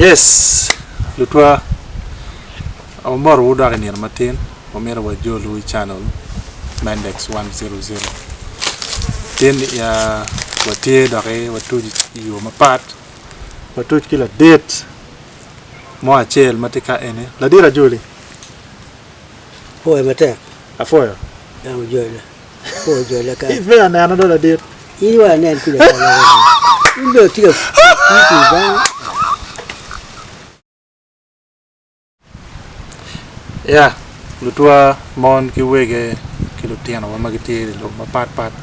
Yes lutwa amoto wu dok inino matin wamito wa jol wu i channel Mendex one zero zero tin ya wa tye dok i wa tuc i yo mapat wa tuc ki ladit mo acel ma tye ka eni ladit ajoli. Apuoyo matek. Apuoyo. Dano jole. lutwa mon ki wege ki lutinowa ma gitye i lobo mapat pat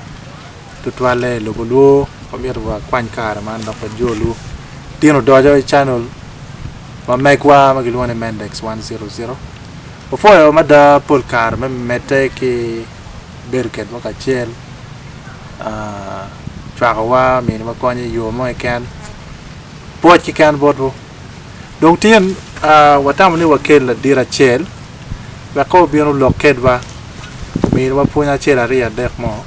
tutwalle i lobo olwo wamyero wakwany kare man dok wajolu tin odoco i canel ma megwa ma kilwongo ni Mendex100. Wapwoyo mada pol kare me medde ki bedo kedwa kacel, cwakowa, miniwa kony i yo mo keken, pwoc keken botwu. Dong tin, watamo ni wakel ladit acel wek kong obin olok kedwa, ominiwa pwony acel, aryo, adek mo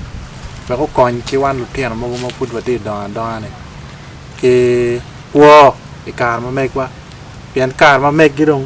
wek okony ki wan lutino mogo ma pud watye ka dongo adonga-ni ki kwo i kare ma megwa pien kare ma meggi dong.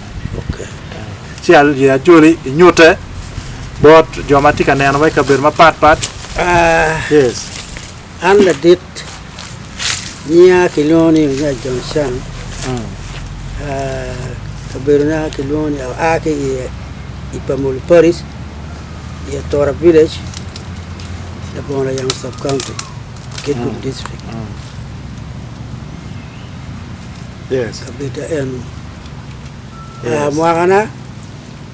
Ci ajoli inyute bot jo ma tye ka neno ma i kabedo mapatpat. Yes. An ladit nyinga kilwongo ni Onya John Shang. Ah, kabedona kilwongo ni aa ki i i Pamulu Parish, i Atora Village, labongo Layamo Sub County, Kitgum District. Yes. Kabedda eno. Yes. Mwakana,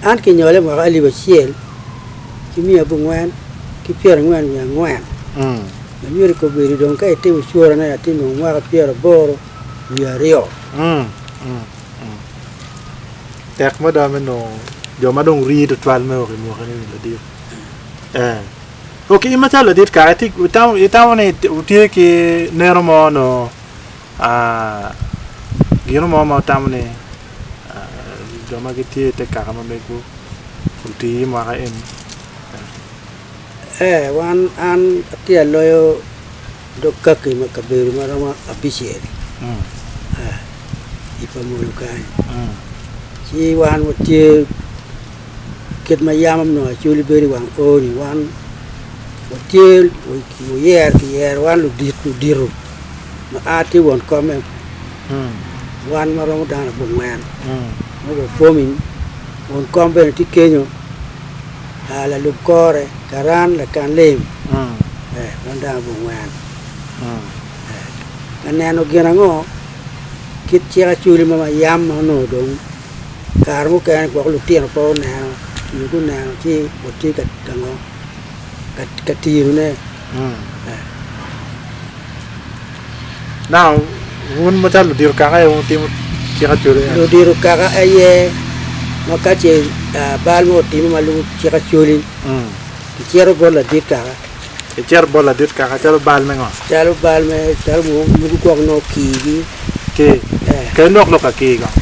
an kinyole mwaka alip acel ki miya abongwen ki pyerangwen wiye angwen. Mm. Ma myero kobedi dong ka itimo cworane atye nongo mwaka pyeraboro wiye aryo. Mm. Mm. Mm. Tek mada me nongo jo ma dong rii tutwal me wok i mwakane-ni ladit. Eh. Ok, in macalo ladit kare, ti- itamo, itamo ni itye ki neno mo nongo Gino mo ma tamo ni jo ma gitye i te kaka ma mego oti i mwaka eni? Ee, wan an atye aloyo dog kaki ma kabedo ma romo abicel i pa munu kany. Ci wan watye kit ma yam nongo acwali bedo i wang oo-ni wan watye wuyero kiyero wan ludit ludito ma a tye won kome wan ma romo dano abongwen ma wapwomi won kom bene tye kenyo lalub kore karan lakan lim ee wan dano abongwen ee ka neno gin ango kit cik acwali ma yam ma nongo dong Kare mukene gwok lutino pe oneno nyo guneno ci watye ka ango ka tirone. Now wun macalo ludito kaka aye wutimo cik acwalo en. Ludito kaka aye ma ka ce bal mo otime ma lwongo cik acwali kicito bot ladit kaka Icito bot ladit kaka calo bal me ngo? Calo bal me calo mo mogo gwok nongo kii gi. Kii? Yeah. Kel lok lok ka kii kong.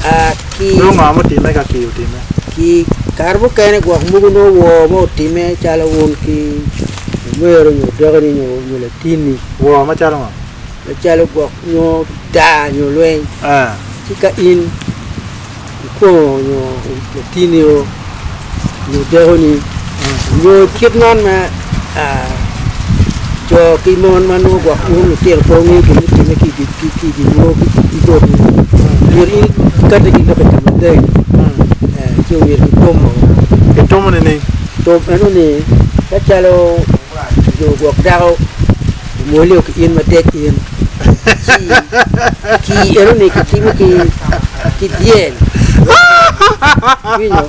Ah, kii. Nongo ngo mutime ka kii otime? Kii kare mukene gwok mogo nongo woo mo otime calo un ki omero nyo dokeni nyo nyo latinni. Woo macalo ngo? Macalo gwok nyo daa nyo lweny. Ah. Ci ka in. ikwongo nyo latini o nyo dekoni nyo kit man ma co ki mon ma nongo gwok wun lutino pe wungeyo gin me time ki i ginwu ki botwu myero in ikate ki lok i ka maleng ci myero kitom o. Kitom enoni ka calo jo gwok dako Omwolio ki in matek in. Ci, ci enoni kitimo ki, ki dyel. Iwinyo?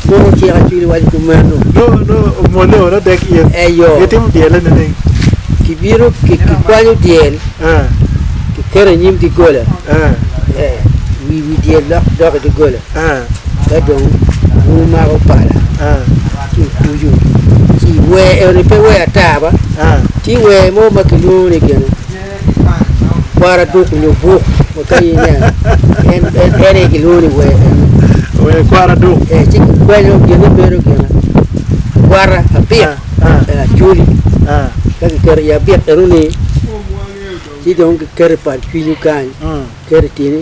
Mon ociko acwili waco kumeno. Nongo, nongo omwolio wano dek in. Eyo. Gitimo dyele nining? Kibino, ki, kikwanyo dyel, Eh, kiketo i nyim doggola. eh. Eh, wi, wi dyel dok, dok i doggola. ka dong wumako pala ci wutucu ci wer eni pe wer ata ba ci wer mo ma kilwongo ni gin kwara duk nyo buk wakayi ne en en en aye kilwongo ni wer eni Wer kwara duk. eh, ci kikwanyo gine bedo gin kwara abik Ah, ah. eh, acoli Ah, ka kiketo i abik eno ni ci dong kiketo i pal cwinyu kany mm. keto i tyeni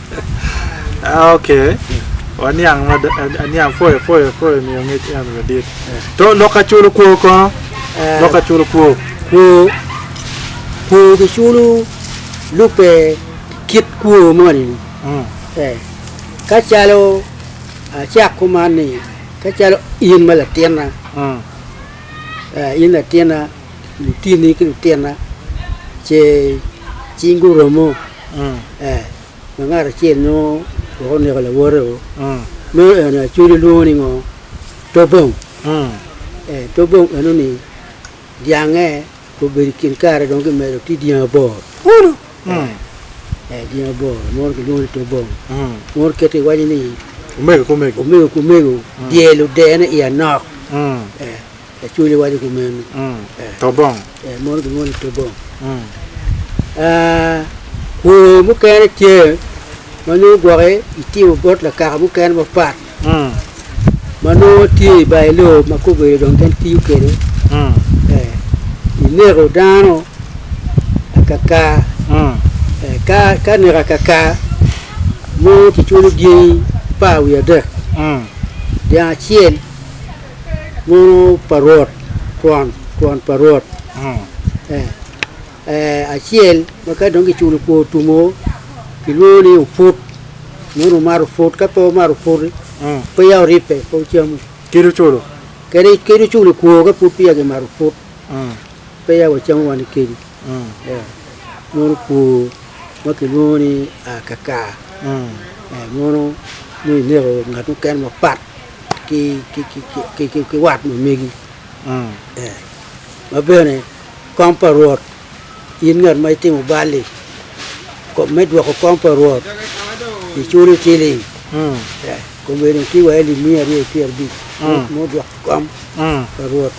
Ah, okay. Waniang ma aniang foyo foyo foyo miyo ngec en madit. To lok ka culo kwo kono. Eh. Lok ka culo kwo. Kwo kwo kiculo lubbe kit kwo moni. Mm. Eh. Ka calo acak kuman ni ka calo in ma latinna, Mm. eh, in latinna, lutini ki lutinna ce cing guromo. Ma ngat acel nongo wek oneko lawote-o, meno en aye Acoli lwongo ni ngo? Tobong. Ee, Tobong enoni dyangnge obedo i kin kare dong kimedo tye dyangi aboro kunu. Ee, dyangi aboro mono kilwongo ni Tobong. Mono kite iwaco ni Omego ki omego. omego ki omego dyelo dene i anok. Ee. Lacwony waco kumeno. Tobong. Eh, mono gin mono Tobong. Ah, kweyo mukene tye ma nongo gwoke itimo bot lakaka mukene mapat ma nongo tye i bayo loo ma ka obedo dong en tiyo kwede. Eh, ineko dano akaka. Eh, ka, ka neko akaka mono kiculo dyangi par wiye adek, dyang acel Mono pa Rwot, twon, twon pa Rwot, ee, ee, acel ma ka dong kiculo kwo otumo kilwongo ni oput, mono wumato oput, ka pe wumato oput, peya wuribbe, pe wucamu. Kit oculo. Kadi kit oculo kwo ka pud peya kimato oput, peya wacamu wan ki kedi, ee, mono kwo ma kilwongo ni aa kakar, ee, mono nongo ineko ngat mukene mapat. ki wat ma megi ma bene kong pa Rwot in ngat ma itimo balli me dwoko kong pa Rwot iculo ciling komedi ki wa alip miya aryo ki pyerabic me odwoko kong pa Rwot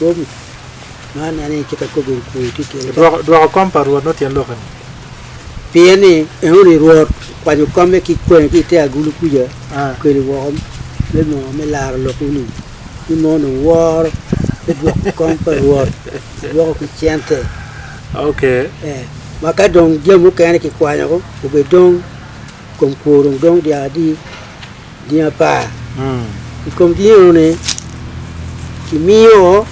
man en aye cik akobo ni kwo ityekene. Dwoko kong pa Rwot nongo tyen lok eni. Pien ni enoni Rwot okwanyo komme ki kwene ki i te agulu kuca, okeli woko me moo me laro lokwu-ni, ni moo onongo woro me dwoko kom pa Rwot, dwoko ki cente, ee, ma ka dong jami mukene kikwanyo obedong, kom kwo dong dong dyaka adi. Gin apar i kom gin eno-ni kimiyo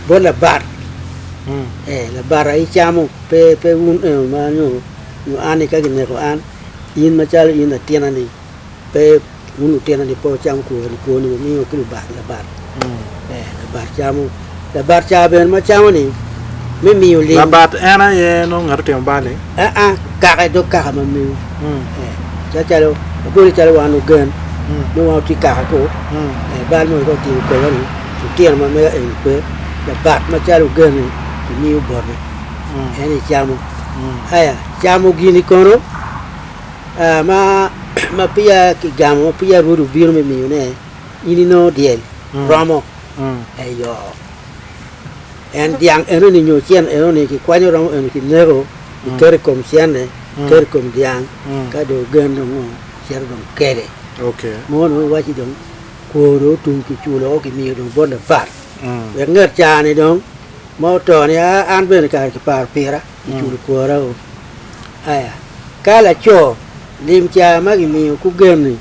bot labat, ee, labata icamo, pe, pe wun eno ma nyo, nyo an-ni ka kineko an, in macalo in latinani, pe wun lutinani pe wucam kwoni, kwoni wumiyo ki lubat, labat, ee, labat camo. Labat ca bene ma camo ni me miyo lim. Labat en aye nongo ngat otimo bal ni? Aa, kaka i dog kaka ma mewu. Eh, cacalo, wabol ni calo wan ogen, nongo wan otye kaka ko, eh, bal mogo ka otimo koma ni, lutino ma mega eni pe, labat macalo ogen ni, kimiyo bote, en icamo. Aya, camo gini kono, ah, ma, ma peya kigamo, ma peya Rwodi obino me miyone, in inongo dyel, romo. Eyo. En dyang enoni nyo cen enoni kikwanyo romo eno kineko, kiketo i kom cenne, kiketo i kom dyang, ka dong ogen dong o, cito dong kele. Okay. Mono dong iwacci dong kwo dong otum kiculo o kimiyo dong bot lapar. Wek nget caa-ni dong ma oto ni a an bene kare kiparo pira, kiculo kwora o. Aya, ka laco lim caa ma kimiyo kugen-ni,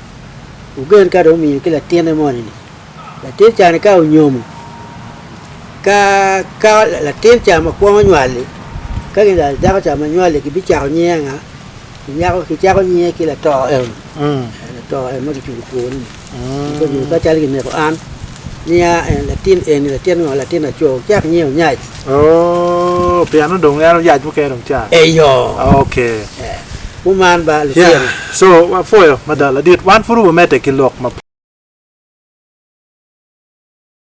ogen ka dong omiyo ki latine moni-ni, Latin ca-ni ka onyomo, ka ka latin ca ma kwongo nywal-li, ka gin lwar dako ca ma nywal-li gibicako nyinge anga? Ginyako gicako nyinge ki lato eno, ee lato eno ma kicubo kwone-ni. Ento dong ka calo gineko an, niya en latin eni latin ngo? Latin laco, wukcak nyinge Onyac. Oo, piano dong en oyac mukene dong ca? Eyo. Oke. Ee. Kuman ba lutino. So wapwoyo mada ladit wan pud wumedde ki lok mapol.